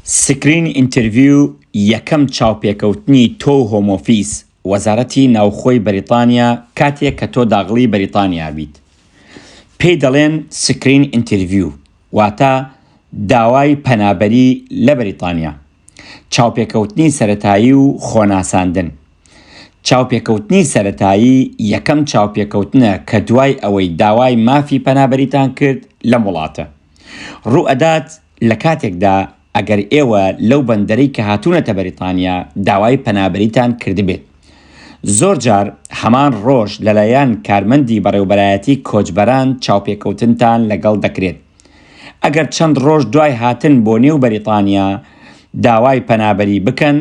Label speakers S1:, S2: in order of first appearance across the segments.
S1: سکرین ئینتەرڤیو یەکەم چاوپێکەوتنی تۆ و هۆم ئۆفیس، وەزارەتی ناوخۆی بەریتانیا، کاتێک کە تۆ داغڵی بەریتانیا بیت. پێی دەڵێن سکرین ئینتەرڤیو واتە داوای پەنابەری لە بەریتانیا. چاوپێکەوتنی سەرەتایی و خۆناساندن. چاوپێکەوتنی سەرەتایی یەکەم چاوپێکەوتنە کە دوای ئەوەی داوای مافی پەنابەریتان کرد لەم وڵاتە. ڕوو ئەدات. لە کاتێکدا ئەگەر ئێوە لەو بەندەرەی کە هاتوونەتە بەریتانیا داوای پەنابەریتان کردبێت زۆر جار هەمان ڕۆژ لەلایەن کارمەندی بەڕێوبەرایەتی کۆچبەران چاوپێکەوتنتان لەگەڵ دەکرێت ئەگەر چەند ڕۆژ دوای هاتن بۆ نێو بەریتانیا داوای پەنابەری بکەن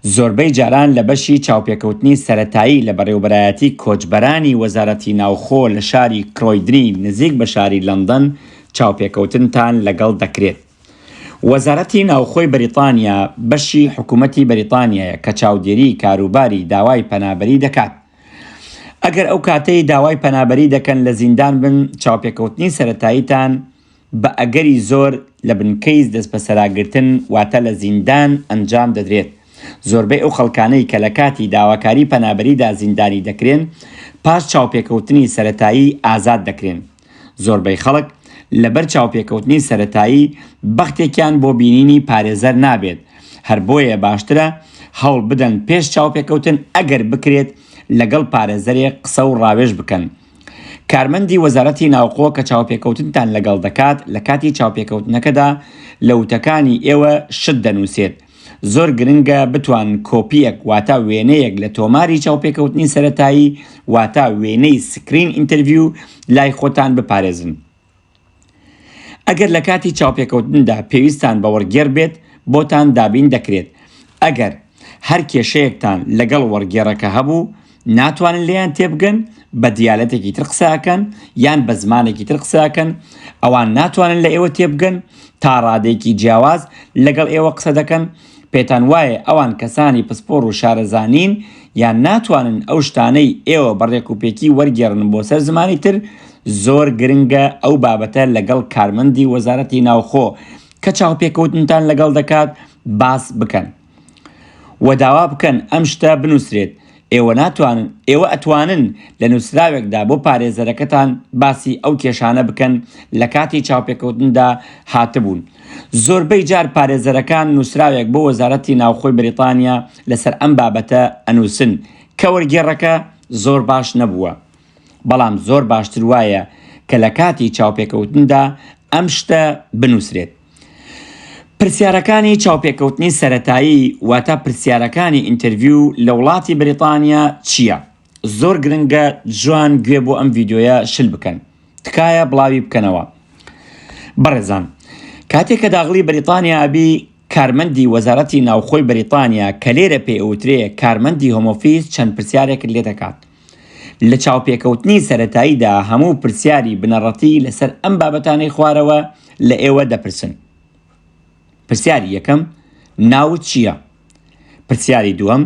S1: زۆربەی جاران لە بەشی چاوپێکەوتنی سەرەتایی لە بەڕێوبەرایەتی کۆچبەرانی وەزارەتی ناوخۆ لە شاری کرۆیدنی نزیک بە شاری لەندەن چاوپێکەوتنتان لەگەڵ دەکرێت. وەزارەتی ناوخۆی بەریتانیا بەشی حکومەتی بەریتانیایە کە چاودێری کاروباری داوای پەنابەری دەکات. ئەگەر ئەو کاتەی داوای پەنابەری دەکەن لە زیندان بن چاوپێکەوتنی سەرەتاییتان بە ئەگەری زۆر لە بنکەی دەستبەسەراگرتن واتە لە زیندان ئەنجام دەدرێت. زۆربەی ئەو خەڵکانەی کە لە کاتی داواکاری پەنابەریدا زیندانی دەکرێن، پاش چاوپێکەوتنی سەرەتایی ئازاد دەکرێن. زۆربەی خەڵک لەبەر چاوپێکەوتنی سەرەتایی بەختێکیان بۆ بینینی پارێزەر نابێت، هەر بۆیە باشترە هەوڵ بدەن پێش چاوپێکەوتن ئەگەر بکرێت لەگەڵ پارێزەرێک قسە و ڕاوێژ بکەن. کارمەندی وەزارەتی ناوخۆ کە چاوپێکەوتنتان لەگەڵ دەکات لە کاتی چاوپێکەوتنەکەدا لە وتەکانی ئێوە شت دەنووسێت. زۆر گرنگە بتوان کۆپییەک واتا وێنەیەک لە تۆماری چاوپێکەوتنی سەرەتایی واتا وێنەی سکرین ئینتەرڤیو لای خۆتان بپارێزن. ئەگەر لە کاتی چاوپێکەوتندا پێویستتان بە وەرگێڕ بێت بۆتان دابین دەکرێت، ئەگەر هەر کێشەیەکتان لەگەڵ وەرگێڕەکە هەبوو ناتوانن لێیان تێبگەن بە دیالەتێکی تر قسە ئەکەن یان بە زمانێکی تر قسە ئەکەن ئەوان ناتوانن لە ئێوە تێبگەن تا ڕادەیەکی جیاواز لەگەڵ ئێوە قسە دەکەن پێتان وایە ئەوان کەسانی پسپۆڕ و شارەزا نین یان ناتوانن ئەو شتانەی ئێوە بە ڕێکوپێکی وەرگێڕن بۆ سەر زمانی تر؟ زۆر گرنگە ئەو بابەتە لەگەڵ کارمەندی وەزارەتی ناوخۆ کە چاوپێکەوتنتان لەگەڵ دەکات باس بکەن و داوا بکەن ئەم شتە بنووسرێت، ئێوە ناتوانن، ئێوە ئەتوانن لە نووسراوێکدا بۆ پارێزەرەکەتان باسی ئەو کێشانە بکەن لە کاتی چاوپێکەوتندا هاتبوون. زۆربەی جار پارێزەرەکان نووسراوێک بۆ وەزارەتی ناوخۆی بریتانیا لەسەر ئەم بابەتە ئەنووسن کە وەرگێڕەکە زۆر باش نەبووە. بەڵام زۆر باشتر وایە کە لە کاتی چاوپێکەوتندا ئەم شتە بنووسرێت. پرسیارەکانی چاوپێکەوتنی سەرەتایی واتە پرسیارەکانی ئینتەرڤیو لە وڵاتی بریتانیا چیە؟ زۆر گرنگە جوان گوێ بۆ ئەم ڤیدیۆیە شل بکەن تکایە بڵاوی بکەنەوە بەڕێزان کاتێک کە داغڵی بریتانیا ئەبی کارمەندی وەزارەتی ناوخۆی بریتانیا کە لێرە پێوترێ کارمەندی هۆمۆفیس چەند پرسیارێکت لێ دەکات لە چاوپێکەوتنی سەرەتاییدا هەموو پرسیاری بنەڕەتی لەسەر ئەم بابەتانەی خوارەوە لە ئێوە دەپرسن. پرسیاری یەکەم، ناوت چییە؟ پرسیاری دووەم،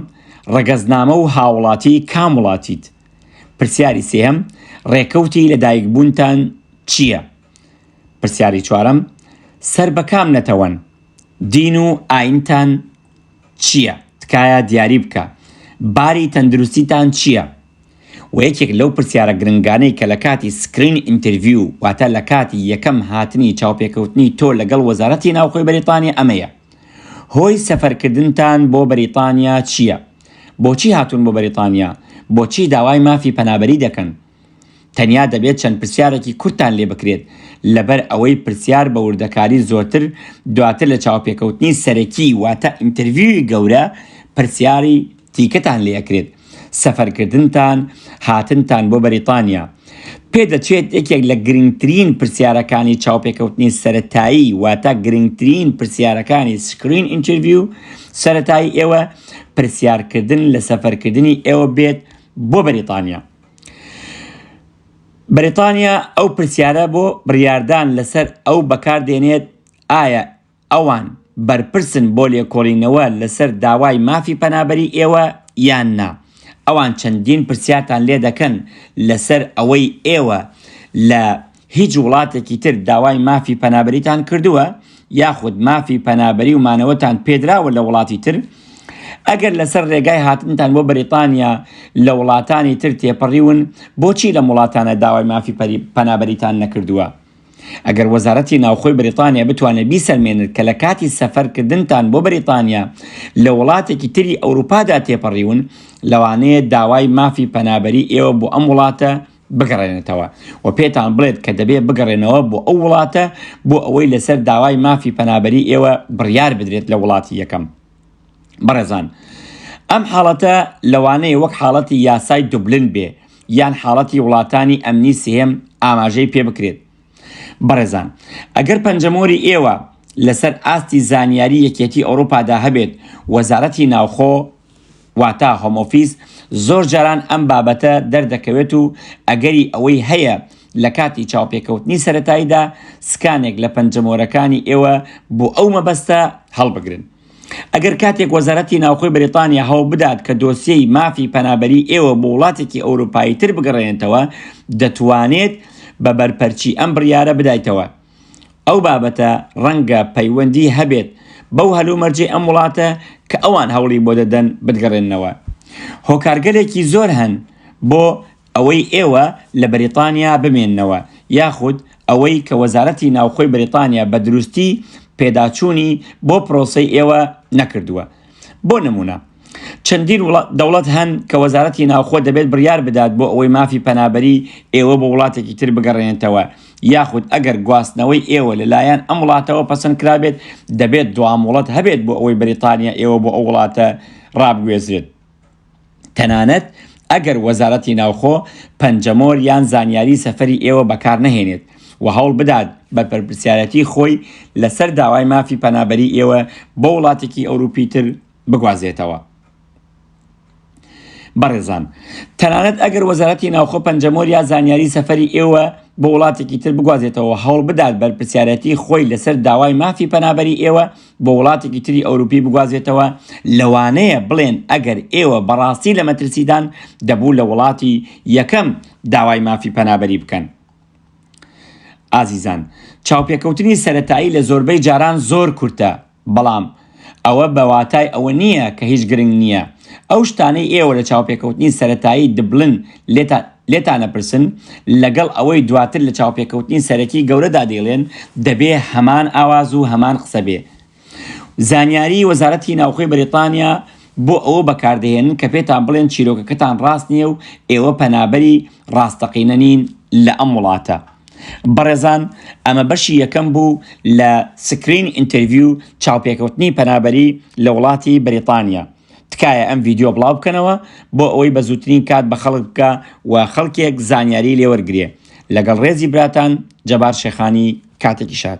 S1: ڕەگەزنامە و هاوڵاتی کام وڵاتیت؟ پرسیاری سێیەم، ڕێکەوتی لەدایکبوونتان چییە؟ پرسیاری چوارەم، سەر بە کام نەتەوەن؟ دین و ئایینتان چیە تکایە دیاری بکە باری تەندروستیتان چیە وە یەکێک لەو پرسیارە گرنگانەی کە لە کاتی سکرین ئینترڤیو واتە لە کاتی یەکەم هاتنی چاوپێکەوتنی تۆ لەگەڵ وەزارەتی ناوخۆی بەریتانیا ئەمەیە هۆی سەفەر کردنتان بۆ بەریتانیا چیە بۆچی هاتون بۆ بەریتانیا بۆچی داوای مافی پەنابەری دەکەن تەنیا دەبێت چەند پرسیارێکی کورتتان لێ بکرێت، لەبەر ئەوەی پرسیار بە وردەکاری زۆرتر دواتر لە چاوپێکەوتنی سەرەکی واتە ئینتەرڤیوی گەورە پرسیاری دیکەتان لێ ئەکرێت. سەفەرکردنتان، هاتنتان بۆ بەریتانیا. پێ دەچێت یەکێک لە گرنگترین پرسیارەکانی چاوپێکەوتنی سەرەتایی واتە گرنگترین پرسیارەکانی سکرین ئینتەرڤیو سەرەتایی ئێوە پرسیارکردن لە سەفەرکردنی ئێوە بێت بۆ بەریتانیا. بەریتانیا ئەو پرسیارە بۆ بڕیاردان لەسەر ئەو بەکاردێنێت ئایا ئەوان بەرپرسن بۆ لێکۆڵینەوە لەسەر داوای مافی پەنابەری ئێوە یان نا، ئەوان چەندین پرسیارتان لێدەکەن لەسەر ئەوەی ئێوە لە هیچ وڵاتێکی تر داوای مافی پەنابەریتان کردووە یاخود مافی پەنابەری و مانەوەتان پێدراوە لە وڵاتی تر؟ ئەگەر لەسەر ڕێگای هاتنتان بۆ بەریتانیا لە وڵاتانی تر تێپەڕیون بۆچی لەم وڵاتانە داوای مافی پەنابەریتان نەکردووە؟ ئەگەر وەزارەتی ناوخۆی بەریتانیا بتوانێت بیسەلمێنێت کە لە کاتی سەفەرکردنتان بۆ بەریتانیا لە وڵاتێکی تری ئەوروپادا تێپەڕیون لەوانەیە داوای مافی پەنابەری ئێوە بۆ ئەم وڵاتە بگەڕێنێتەوە و پێتان بڵێت کە دەبێت بگەڕێنەوە بۆ ئەو وڵاتە بۆ ئەوەی لەسەر داوای مافی پەنابەری ئێوە بڕیار بدرێت لە وڵاتی یەکەم. بەڕێزان ئەم حاڵەتە لەوانەیە وەک حاڵەتی یاسای دوبلن بێ یان حاڵەتی وڵاتانی ئەمنی سێم ئاماژەی پێ بکرێت. بەڕێزان ئەگەر پەنجەمۆری ئێوە لەسەر ئاستی زانیاری یەکێتی ئەوروپادا هەبێت وەزارەتی ناوخۆ، واتا هۆمۆفیز، زۆر جاران ئەم بابەتە دەردەکەوێت و ئەگەری ئەوەی هەیە لە کاتی چاوپێکەوتنی سەرەتاییدا سکانێک لە پەنجەمۆرەکانی ئێوە بۆ ئەو مەبەستە هەڵبگرن. ئەگەر کاتێک وەزارەتی ناوخۆی بەریتانیا هەوڵبدات کە دۆسیەی مافی پەنابەری ئێوە بۆ وڵاتێکی ئەوروپایی تر بگەڕێنێتەوە، دەتوانێت بە بەرپەرچی ئەم بڕیارە بدایتەوە. ئەو بابەتە ڕەنگە پەیوەندی هەبێت بەو هەلومەرجەی ئەم وڵاتە کە ئەوان هەوڵی بۆ دەدەن بتگەڕێننەوە. هۆکارگەلێکی زۆر هەن بۆ ئەوەی ئێوە لە بەریتانیا بمێننەوە یاخود ئەوەی کە وەزارەتی ناوخۆی بەریتانیا بە دروستی پێداچوونی بۆ پرۆسەی ئێوە نەکردووە. بۆ نموونە. چەندین دەوڵەت هەن کە وەزارەتی ناوخۆ دەبێت بڕیار بدات بۆ ئەوەی مافی پەنابەری ئێوە بۆ وڵاتێکی تر بگەڕێنێتەوە یاخود ئەگەر گواستنەوەی ئێوە لەلایەن ئەم وڵاتەوە پەسەند کرابێت دەبێت دواموڵەت هەبێت بۆ ئەوەی بریتانیا ئێوە بۆ ئەو وڵاتە ڕابگوێزرێت تەنانەت ئەگەر وەزارەتی ناوخۆ پەنجەمۆر یان زانیاری سەفری ئێوە بەکار نەهێنێت و هەوڵ بدات بە پەرپسیارەتی خۆی لەسەر داوای مافی پەنابەری ئێوە بۆ وڵاتێکی ئەوروپی تر بگوازێتەوە بەڕێزان تەنانەت ئەگەر وەزارەتی ناوخۆ پەنجەمۆر یا زانیاری سەفەری ئێوە بۆ وڵاتێکی تر بگوازێتەوە هەوڵ بدات بەرپسیارەتی خۆی لەسەر داوای مافی پەنابەری ئێوە بۆ وڵاتێکی تری ئەوروپی بگوازێتەوە لەوانەیە بڵێن ئەگەر ئێوە بەڕاستی لە مەترسیدان دەبوو لە وڵاتی یەکەم داوای مافی پەنابەری بکەن ئازیزان چاوپێکەوتنی سەتایی لە زۆربەی جاران زۆر کورتە بەڵام ئەوە بە واتای ئەوە نییە کە هیچ گرنگ نییە. ئەو شتانەی ئێوە لە چاوپێکەوتنی سەرەتایی دبلن لێتان ئەپرسن، لەگەڵ ئەوەی دواتر لە چاوپێکەوتنی سەرەکی گەورەدا دەیڵێن، دەبێ هەمان ئاواز و هەمان قسە بێ. زانیاریی وەزارەتی ناوخۆی بەریتانیا بۆ ئەوە بەکاردەهێنن کە پێتان بڵێن چیرۆکەکەتان ڕاست نییە و ئێوە پەنابەری ڕاستەقینە نین لە ئەم وڵاتە. بەڕێزان ئەمە بەشی یەکەم بوو لە سکرین ئینتەرڤیو چاوپێکەوتنی پەنابەری لە وڵاتی بەریتانیا تکایە ئەم ڤیدیۆ بڵاو بکەنەوە بۆ ئەوەی بە زووترین کات بە خەڵک بگا و خەڵکێک زانیاری لێ وەرگرێ لەگەڵ ڕێزی براتان جەبار شێخانی کاتێکی شاد.